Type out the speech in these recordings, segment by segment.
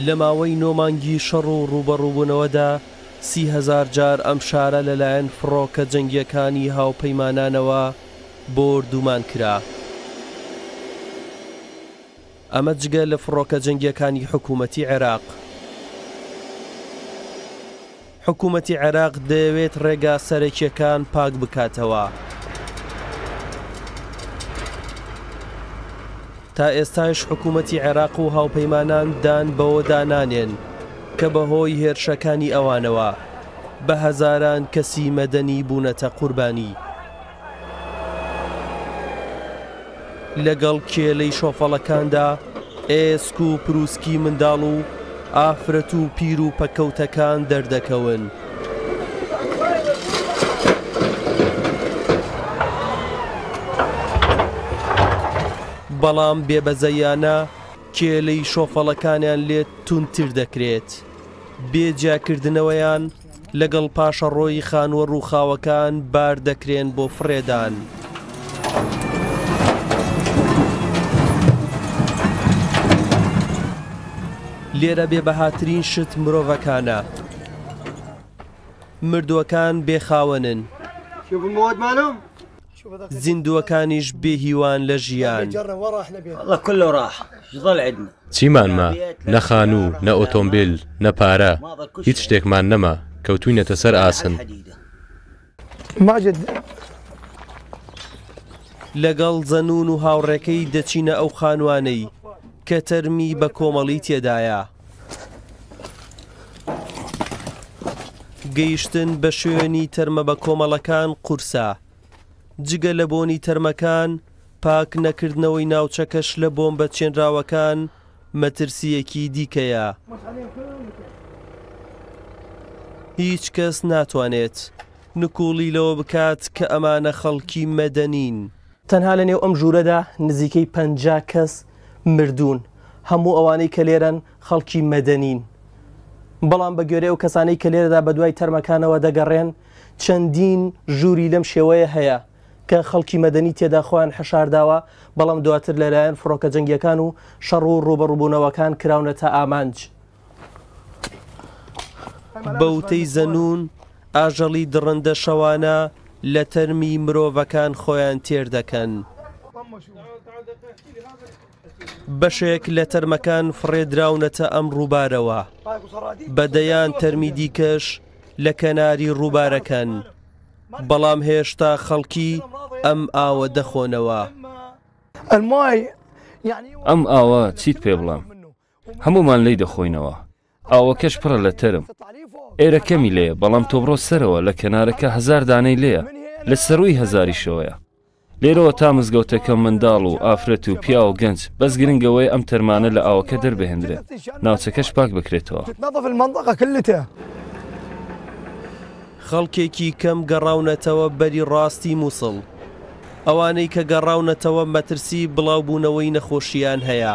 لە ماوەی نۆ مانگی شەڕ و ڕووبەڕووبوونەوەدا، سی هەزار جار ئەم شارە لەلایەن فڕۆکە جەنگییەکانی هاوپەیمانانەوە بۆردومان کرا. ئەمە جگە لە فڕۆکە جەنگییەکانی حکوومەتی عێراق. حکومەتی عێراق دەیەوێت ڕێگا سەرەکییەکان پاک بکاتەوە. تا ئێستایش حکومەتی عێراق و هاوپەیمانان دان بەوەدا نانێن کە بەهۆی هێرشەکانی ئەوانەوە بە هەزاران کەسی مەدەنی بوونەتە قوربانی. لەگەڵ کێلەی شۆفەڵەکاندا ئێسک و پروسکی منداڵ و ئافرەت و پیر و پەکەوتەکان دەردەکەون. بەڵام بێبەزەیانە کێلەی شۆفەڵەکانیان لێ تونتر دەکرێت. بێ جیاکردنەوەیان لەگەڵ پاشەڕۆی خانووە ڕووخاوەکان بار دەکرێن بۆ فڕێدان. لێرە بێبەهاترین شت مرۆڤەکانە. مردووەکان بێخاوەنن. زیندووەکانیش بێ هیوان لە ژیان. چیمان ما؟ نە خانوو، نە ئۆتۆمبیل، نە پارە، هیچ شتێکمان نەما، کەوتووینەتە سەر ئاسن. لەگەڵ زەنوون و هاوڕێکەی دەچینە ئەو خانووانەی کە تەرمی بە کۆمەڵی تێدایە. گەیشتن بە شوێنی تەرمە بە کۆمەڵەکان قورسە. جگە لە بۆنی تەرمەکان، پاک نەکردنەوەی ناوچەکەش لە بۆمبە چێنراوەکان مەترسییەکی دیکەیە. هیچ کەس ناتوانێت نکوڵی لەوە بکات کە ئەمانە خەڵکی مەدەنین. تەنها لە نێو ئەم ژوورەدا نزیکەی پەنجا کەس مردوون، هەموو ئەوانەی کە لێرەن خەڵکی مەدەنین، بەڵام بە گوێرەی ئەو کەسانەی کە لێرەدا بە دوای تەرمەکانەوە دەگەڕێن، چەندین ژووری لەم شێوەیە هەیە کە خەڵکی مەدەنی تێدا خۆیان حەشارداوە، بەڵام دواتر لەلایەن فڕۆکە جەنگییەکان و شەڕ و ڕووبەڕووبوونەوەکان کراونەتە ئامانج. بە وتەی زەنوون، ئاژەڵی دڕندە شەوانە لە تەرمی مرۆڤەکان خۆیان تێر دەکەن. بەشێک لە تەرمەکان فڕێدراونەتە ئەم ڕووبارەوە، بە دەیان تەرمی دیکەش لە کەناری ڕووبارەکەن، بەڵام هێشتا خەڵکی ئەم ئاوە دەخۆنەوە. ئەم ئاوە چیت پێ بڵێم؟ هەموومان لێی دەخۆینەوە. ئاوەکەش پڕە لە تەرم. ئێرە کەمی لێیە، بەڵام تۆ بڕۆ سەرەوە، لە کەنارەکە هەزار دانەی لێیە، لە سەرووی هەزاریشەوەیە. لێرەوە تا مزگەوتەکە منداڵ و ئافرەت و پیاو و گەنج، بەس گرنگ ئەوەیە ئەم تەرمانە لە ئاوەکە دەربهێندرێن، ناوچەکەش پاک بکرێتەوە. خەڵکێکی کەم گەڕاونەتەوە بەری ڕاستی موسڵ. ئەوانەی کە گەڕاونەتەوە مەترسیی بڵاوبوونەوەی نەخۆشییان هەیە.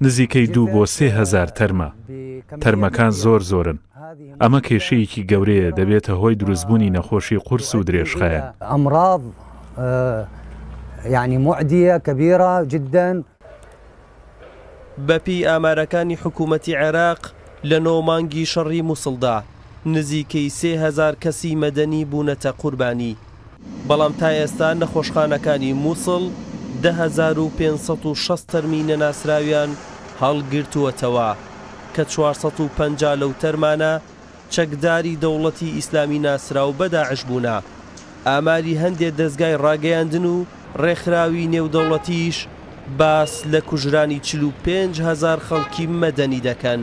نزیکەی دوو بۆ سێ هەزار تەرمە، تەرمەکان زۆر زۆرن، ئەمە کێشەیەکی گەورەیە دەبێتە هۆی دروستبوونی نەخۆشی قورس و درێژخایەن. بەپێی ئامارەکانی حکوومەتی عێراق، لە نۆ مانگی شەڕی مووسڵدا، نزیکەی سێ هەزار کەسی مەدەنی بوونەتە قوربانی، بەڵام تا ئێستا نەخۆشخانەکانی موسڵ دە هەزار و پێنج سەد و شەست تەرمی نەناسراویان هەڵگرتووەتەوە، کە چوار سەد و پەنجا لەو تەرمانە چەکداری دەوڵەتی ئیسلامی ناسراو بە داعش بوونە، ئاماری هەندێ دەزگای ڕاگەیاندن و ڕێکخراوی نێودەوڵەتیش باس لە کوژرانی چل و پێنج هەزار خەڵکی مەدەنی دەکەن.